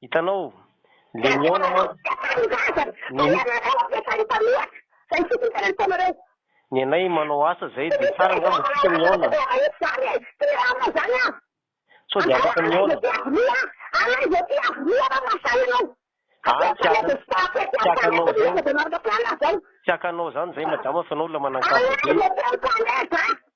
Hitanao, le mihaona mantsy. Ny anay manao asa zay de tsara angamba tsika mihaona. Sao de afaka mihaona. Aah tsy haka, tsy hakanao zany, tsy hakanao zany zay madama fa enao olona manan-kaja be.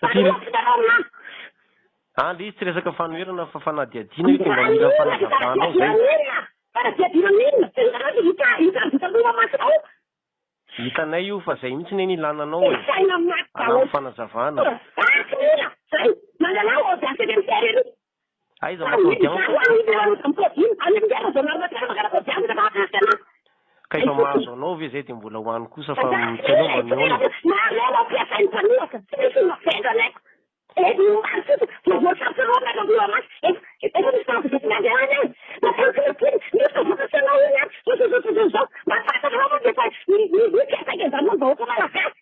Satria Andry izy tsy resaka fanoherana fa fanadihadiana io dia mba mila fanazavana ao zay. Hitanay io fa zay mihitsy neny ilana anao e! Anano fanazavana. Aiza moa tao Diambo? Ka efa mahazo anao ve zay de mbola ho any kosa fa tsy anao mba mihaona?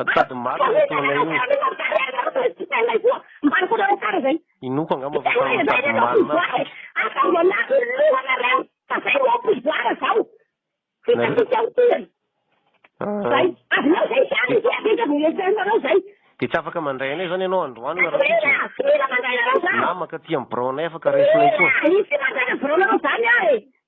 Atody marina ny ataonay io. Inoako angamba fa samy mitady marina aby tsika. Dia tsy afaka mandray anay izany ianao androany na rahampitso e. Namaka aty amin'ny biraonay afaka raisinay koa.